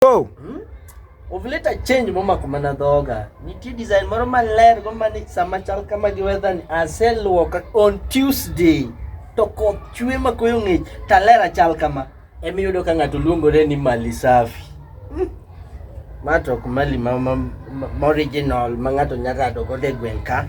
Wow. Hmm? Ovuleta change mama kumana dhoga. Nitie design moro maler go mani sama chal kama gi weather ni aseluoka on Tuesday to koth chwe ma koyo ng'ich talera chal kama. Emi yudo ka ng'ato luongore ni mali safi. Hmm. Mato kumali ma, ma, ma, ma original ma ng'ato nyaka dogo de gwen ka.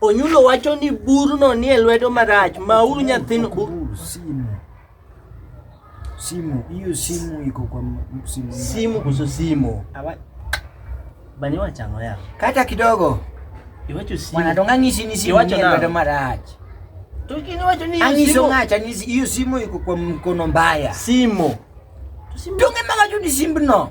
Onyulo wacho ni burno nie lwedo marach, mauru nyathino bur. Bur, simu simu hiyo simu iko kwa m- simu Simu kuso simu. Awa- Bani wachango ya. kata kidogo Iwacho simu. mwanadongo ang'isi ni simu Iwacho nie nang'o? lwedo marach Tukini wacho ni ang'iso simu. ng'acha ang'isi hiyo simu iko kwa mkono mbaya Simu. To simu. donge mawacho ni simbno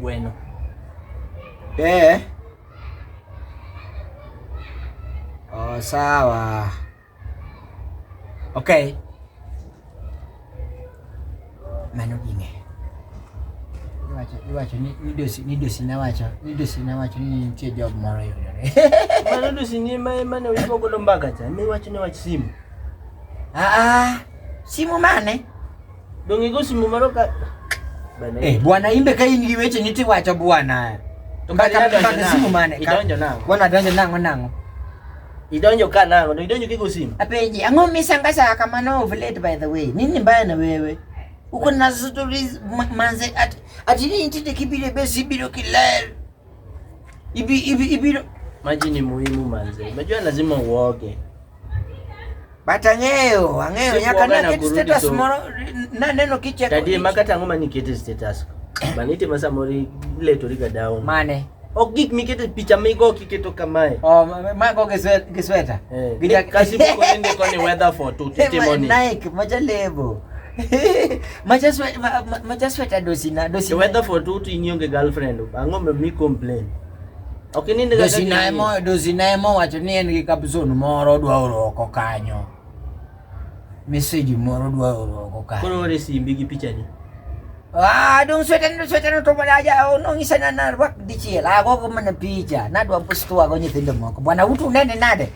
Bueno. Eh. Oh, sawa. Okay. Mano ging'e. Iwacho, iwacho ni midosi, midosi nawacho, midosi nawacho ni nitie job moro yudore. Mano dosi ni ma ema ne wibo golo mbaka cha, miwacho ni wach simu. Ah ah. Simu mane? Dong' igo simu moro ka Bana, Eh, bwana imbe ka in gi weche niti wacho bwana. To Mbaka kaka idonjo mbaka nang'o? simu mane? ka- Idonjo nang'o? Bwana donjo nang'o nang'o. idonjo ka nang'o? Dong' idonjo kigo simu? Apeji, ang'o misanga saa kamano of late by the way? Nini mbaya na wewe? Uko na stories ma- manze at, ati ni intite kibire besi biro kiler. Ibi ibi ibi maji ni muhimu manze. Unajua lazima uoge. Bata ngeo, angeo nyaka na kiti status moro na neno kiche. Tadi makata ngoma ni kiti status. Banite masa mori ile toriga down. Mane. Ok gik mikete picha migo kiketo kamae. Oh, mago gisweta. Eh, Gija kasi mko nende kwa ni weather for tu testimony. Nike, maja lebo. machasweta dosina the weather for two to inyo ge girlfriend ang'o me mi complain ok ni ndega dosina emo dosina emo wacho ni en gi kapson moro odwa oro oko kanyo message moro odwa oro oko kanyo koro ore simbi gi picha ni Ah, dong sweten dong sweten to pada aja oh, nong isa na narwak dichiel. Ako ko mana picha. Nadwa pustu ako nyithindo moko. Bwana utu nene nade.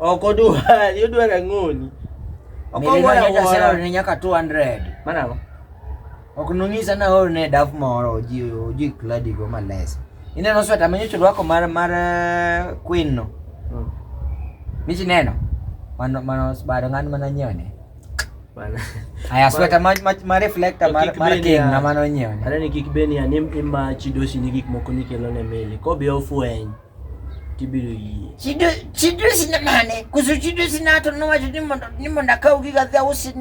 Ok odwar, odwar ang'oni. Ok odwar awuora. Ni nyaka 200. Mana go. Ok nonyisa na hol ne daf moro oji oji kladi go males. Ineno sweta manyocho rwako mar mar eh, queen no. Hmm. Michi neno. Mano mano sbaro ng'an mana nyone. Mana. Aya sweta ma ma, ma reflector mar mar king na mano nyone. Ara ni kik beni anim ima chidosi ni gik moko nikelo ne mele. Ko be ofweny. chibiro yie chido chido sina mane kuso chido sina to no wacho ni mondo ni mondo akaw giga dhi ausi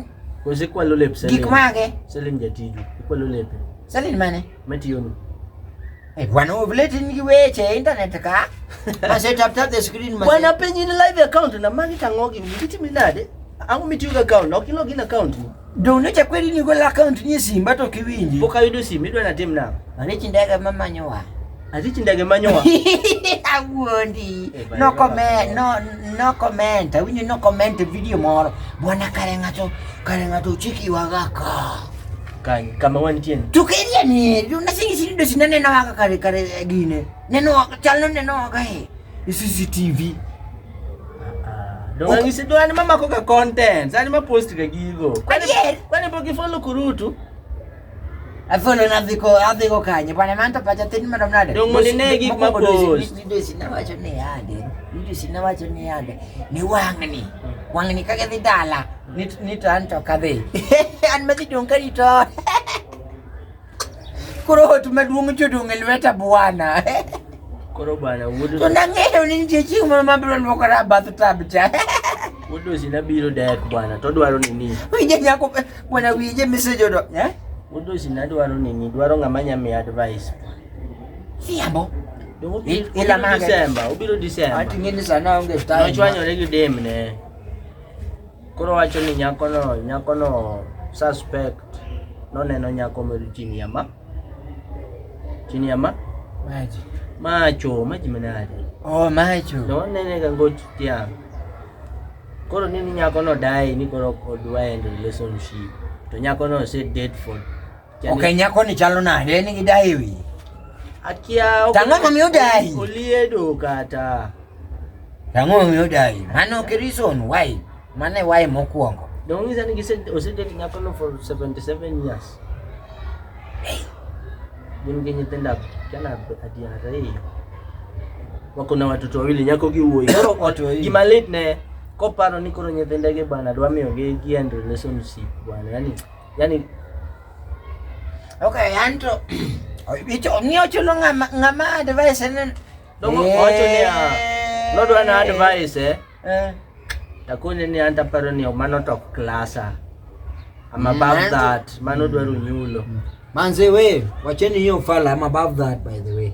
koso ikwalo lep Salim gik mage Salim jatiju ikwalo lepe Salim mane matiyoni Eh, bwana ovuleti nigi weche internet ka ase tap tap the screen mase bwana penyi ni live account na magi tang'ogi gitimi nade ang'o mitiyo gi account ok ilo gin account ni Dono cha kweli ni gola account ni simba to kiwinji. Poka yudo simu idwa na tim na. Mane chindaga mama nyowa. Ati chindaga manyowa. Awuondi. Eh, no comment, no no comment. Awinyo no comment video moro. Bwana kare ngato, kare ngato chiki waga ka. Kan kama wantie. Tukiria ni, unashingi shindu sinane na waga kare kare gine. Neno wako, chalo neno wako eh. CCTV. Donga okay. ngisi dwani mama koka content. Sani ma post ka gigo. Kwani kwani bogi follow kurutu. Afono na viko aviko kanye bwana manto pacha tin mara mnade. Dongo ni ne gik ma post. Ndio sina wacho ne yande. Ndio sina wacho ne yande. Ni wangni. Wangni kage dhi dala. Nit nit anto kadhi. An madhi donga rito. Koro ot maduong' jodong' e lweta bwana. Koro bwana wuod To nang'eyo ni nitie chieng' moro mabiro luokora e bath tab cha. wuod osina biro dek bwana to dwaro nini. Winje nyako bwana winje misejodo. Eh? Wuod osina dwaro nini dwaro ng'ama nya miya advice. Siambo. Dongo I- obiro ila mage. December, obiro December. Ating'e ni sana onge time. Nochwanyore gi demne. Koro wacho ni nyakono nyakono suspect noneno nyako moro chini ya ma chini ya ma maji macho maji manade oh macho no nene ga ngot tia koro nini nyako no dai ni koro odwa end relationship to nyako no said date for Okay, nyako ni chalo nade? En gi dai wi. Akia ok. Tang'o mami odai. Oliedo kata. Tang'o mami odai. Mano ke reason why. Mane why mokwongo. The only reason he said osedate nyako no for 77 years. Hey. Gin gi nyithindo kana ati ariyo. Wako na watoto wawili nyako gi wuoyi. Koro oto hii. Gima late ne koparo ni koro nyithindege bwana dwa miyo gi gi end relationship bwana. Yaani yani okay anto bicho ni ochulo ngama ngama advice ne dogo eh. ocho ni no do na advice eh, eh. takone ni anta paro ni mano to klasa I'm above mm, that mano dwaro nyulo manze we wacheni hiyo fala I'm above that by the way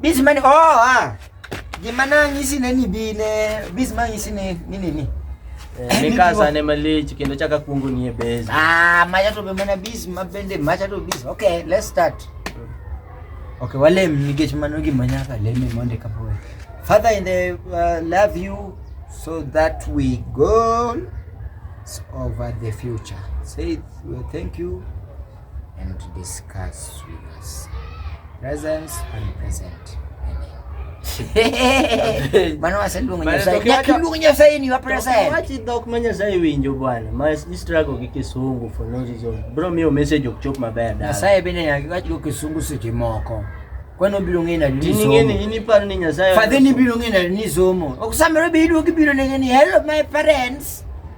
Biz mani oh ah. Gima nanyisi ne ni bi ne biz manyisi ne ni ni ni. Eh, ni kasa ne malich kendo chaka kungu ni e base. Ah, maja to be mana biz mabende maja to biz. Okay, let's start. Okay, wale mnigech mano gima nyaka leme monde kapo. Father in the uh, love you so that we go over the future. Say thank you. and discuss with us. Presence and present. Mano waseluongo Nyasaye. Nyakiluongo Nyasaye ni wapresent. Wachi dhok ma Nyasaye winjo bwana. Ma istrago gi kisungu for no reason. Bro miyo message ok chop maber dala. Nyasaye bende nyaka wachi go kisungu seche moko. Kwani obiro ng'eyo nadi ni somo? Ing'eni in iparo ni Nyasaye. Fadhi ni biro ng'eyo nadi ni somo. Ok samere be iduogi biro nege ni hello my parents.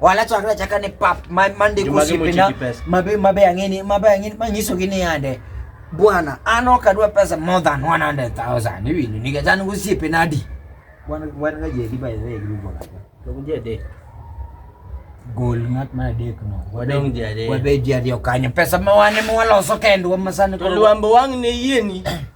wala to akra chaka ne pap mande ko sipina mabe mabe angini mabe angini manyiso gini yande bwana ano kadwa pesa more than 100000 ni winu ni gazani usipe nadi bwana bwana gaje diba yeye grupo kaka to kunje de gol ngat ma dek no wadong ji ariyo wabe ji ariyo kanyo pesa ma wane ma waloso kendwa masani to luambo wang' ne yieni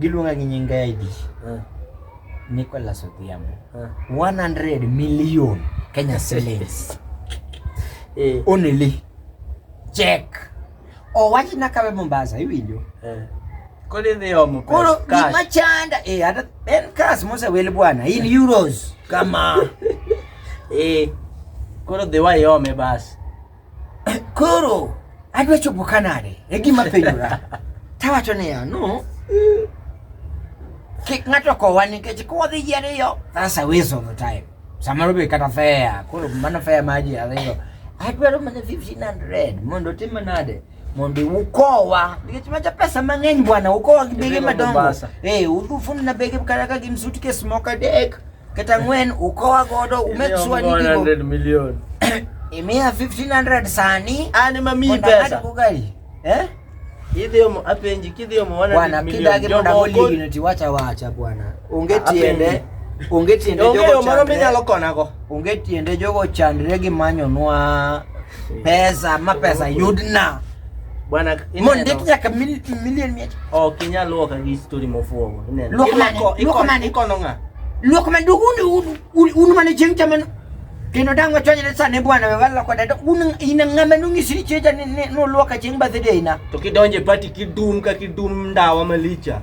Giluonga gi nying ID. Eh. Nicholas Odhiambo. 100 eh. million Kenya shillings. Eh. Only. Check. Owach oh, na kawe Mombasa iwinjo. Eh. Kodi dhi omo pesa. Koro gima chanda eh hata en cash mose wel bwana in euros kama. Eh. Koro dhi wayome basi. Koro adwa chopo kanade? E gima penjora. Tawacho niya, no. Kik ng'ato kowa nikech kodhi ji ariyo, that's a waste of the time. Samoro be kata fare, koro mano fare ma ji ariyo. Adwaro mana 1500 mondo otim nade? mondo ukowa nikech macha pesa mang'eny bwana, ukowa gi bege madongo eh, udufuna bege kata ka gin suitcase moko adek Kata ng'wen ukowa godo umek sure ni gigo. 100 million. Imiya 1500 sani. An ema miyi pesa. Eh? Idhi omo apenji kidhi omo 100 million. Bwana kidagi mondo oli ni tiwacha wacha bwana. Onge tiende. Onge tiende jogo. Onge moro minyalo konago. Onge tiende jogo chandre gi manyonwa pesa ma pesa yudna. Bwana mon de tunya ka mil million mi. Oh kinya luo ka gi story mo fuogo. Ne. Luo ma ko iko ma ni kono nga. Luo ma du un un un ma ne jeng chaman. Kino dango chonye ne sane bwana we wala kwa dada un ina ngama nungi siri cheja ne ne no luo ka jeng ba de ina. To kidonje party kidum ka kidum ndawa malicha.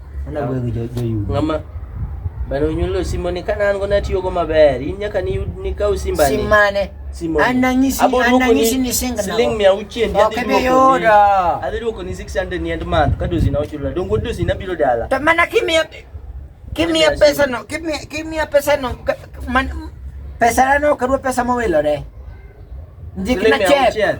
ng'ama bana onyuolo simoni ka an go natiyogo maber in nyaka nikaw simbani simane siling mia auchiel adhi duoko ni 600 ni end month ka dosina ochula dongo dosina biro dala to mana kimiya kimiya pesa no kimiya pesa no pesa no kadwa pesa mowilore ndikna chek